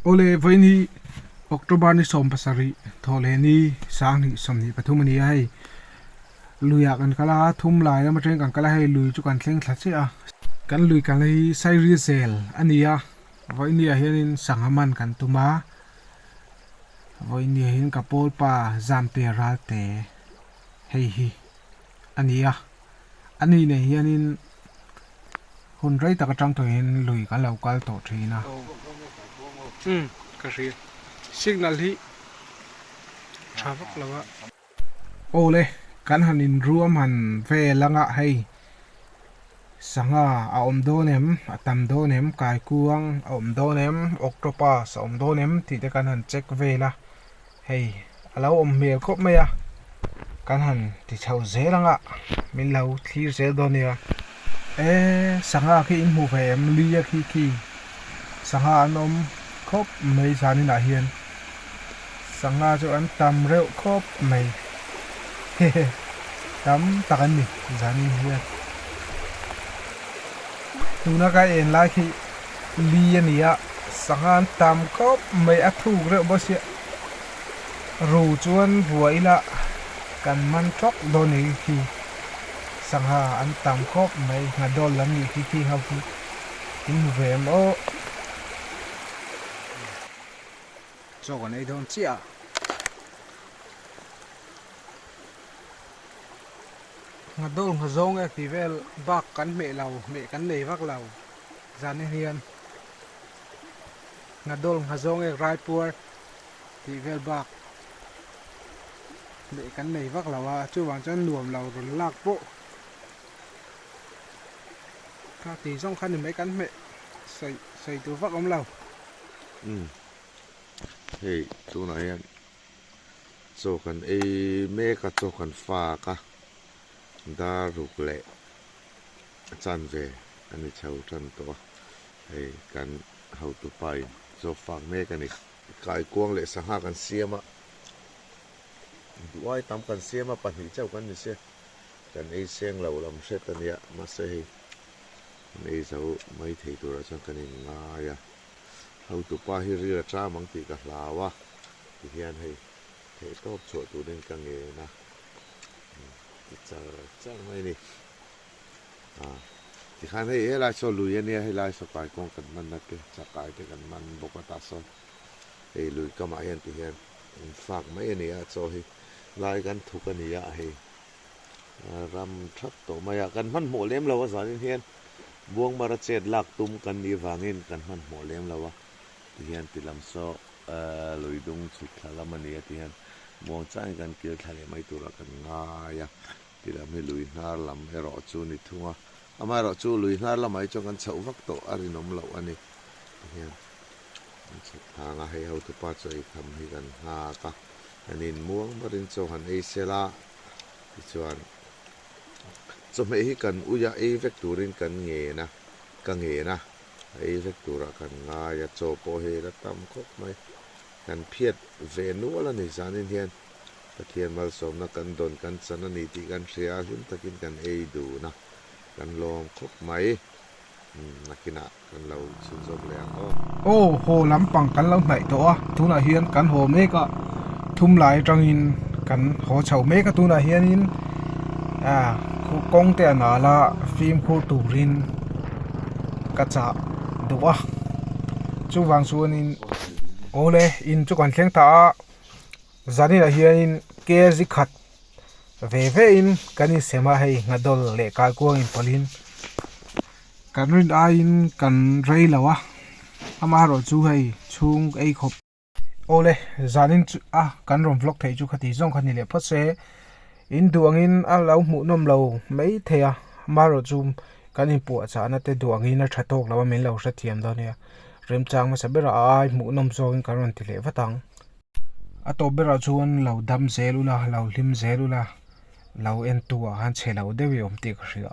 Awle vawiin hi October ni sawm pasarih thawhleh ni sang hnih sawmhnih pathum a ni a, hei luiah kan kal a, thum lai lam atangin kan kal a, hei lui chu kan thleng thla chiah a. Kan lui kalna hi Sairi zel a ni a, vawiini ah hianin sangha man kan tum a, vawiini ah hian ka pawlpa Zamte Ralte hei hi a ni a. A ni nei hianin hun rei tak atang tawhin lui kan lo kal tawh thin a. Aw, umm, ka hria. Signal hi tha vak lo a. Awle, kan han inruam han ve langa hei sangha a awm dawn em, a tam dawn em, kaikuang a awm dawn em, octopus a awm dawn em tih te kan han check vel a. Hei a lo awm hmel khawp mai a, kan han ti chho zel ang a, min lo thlir zel dawn nia. E sangha khi in hmuh ve em, luia khi khi sangha an awm khawp mai zan inah hian, sangha chu an tam reuh khawp mai he he, tam tak an ni zan in hian, tuna ka en lai khi. Li a ni a, sangha an tam kawp mai a thuk reuh baw sia, ru chuan vua ila kan hman tawk dawn e khi, sangha an tam kawp mai ngha dawn lam ni khi khi ho khi i hmu ve em aw. Zawk an ei dawn chiah a. Ngha dawn ngha zawng e khi vel bak kan hmeh lo, hmeh kan nei vak lo. zan a hian Hnadol Nghazawngek Raipuar tih vel bak leh kan nei vak lo a, chuvang chuan nuam lo rawn lak pawh kha tih zawng kha ni mai kan hmeh sawi sawi tur vak awm lo. Umm hei tunah hian chaw kan ei mek a, chaw kan fak a, dar ruk leh a chan ve a ni chho tan tawh a, hei kan hotu pain zawk fak mek a ni. Kaikuang leh sangha kan siam a, duhai tam kan siam a, pahnih chauh kan ni se, kan ei seng lo lam hret a nia, mahse hei kan ei zo mai thei turah chuan kan in ngai a, hotupa hi ril a tram ang tih ka hlau a, tihian hei theih tawp chhuah turin ka ngen a, ti char char mai a ni. A, tikhan hei helai saw lui a nia, helai saw kai kawng kan hman na te, chak kai te kan hman bawk a, tah sawn hei lui kamah hian ti hian in fak mai a nia, chaw hi lai kan thuk a nia, hei ram that tawh mai a, kan hmanhmawh lem lo a zanin hian Buangmara chet lak tum kan nih avangin kan hmanhmawh lem lo a, ti hian ti lam sawk a lui dung chhuk thla lam a nia ti hian muang changin kan kil thla leh mai tura kan ngai a ti lam hi lui hnar lam erawh chu ni thung a amah erawh chu lui hnar lamah hi chuan kan chhoh vak tawh a rinawm loh a ni ti hian kan chhak thlanga hei ho tu pa chu ei tham hi kan nghak a kan in muang marin chu han ei sel a ti chuan chawhmeh hi kan ui a ei vek turin kan ngen a ka ngen a ei hlek turah kan ngai a, chaw pawh hi la tam khawp mai. Kan phiat ve nual a ni, zanin hian Pathian malsawmna kan dawn kan chan a ni tih kan hria a, hlim takin kan ei dun a, kan lawm khawp mai. Umm, nakinah kan lo chhun zawk leh ang aw. Aw, haw lampang kan lo hnaih tawh a, tunah hian kan haw mek a, thum lai atangin kan haw chho mek a, tunah hianin kawngte a nal a, fimkhur turin. ka chah duh a chuvang chuanin awle in chu kan thleng ta a zanina hianin kzi khat ve ve in kan insem a hei ngadawl leh kaikuang inpawlhin kan rin aiin kan rei lo a amaherawhchu hei chhung ei khawp-- Awle, zanin chu a kan rawn vlog theih chu khati zawng kha ni leh phawt se, in duh angin a lo hmuh nawm lo maithei a, amaherawh chu kan inpuah chahna te duh angin a tha tawk lo a min lo hre thiam dawn nia, remchang hmasa berah a ai hmuh nawm zawngin kan rawn ti leh vat ang. A tawp berah chuan lo dam zel ula, lo hlim zel ula, lo en tu ah khan che lo deuh i awm tih ka hria.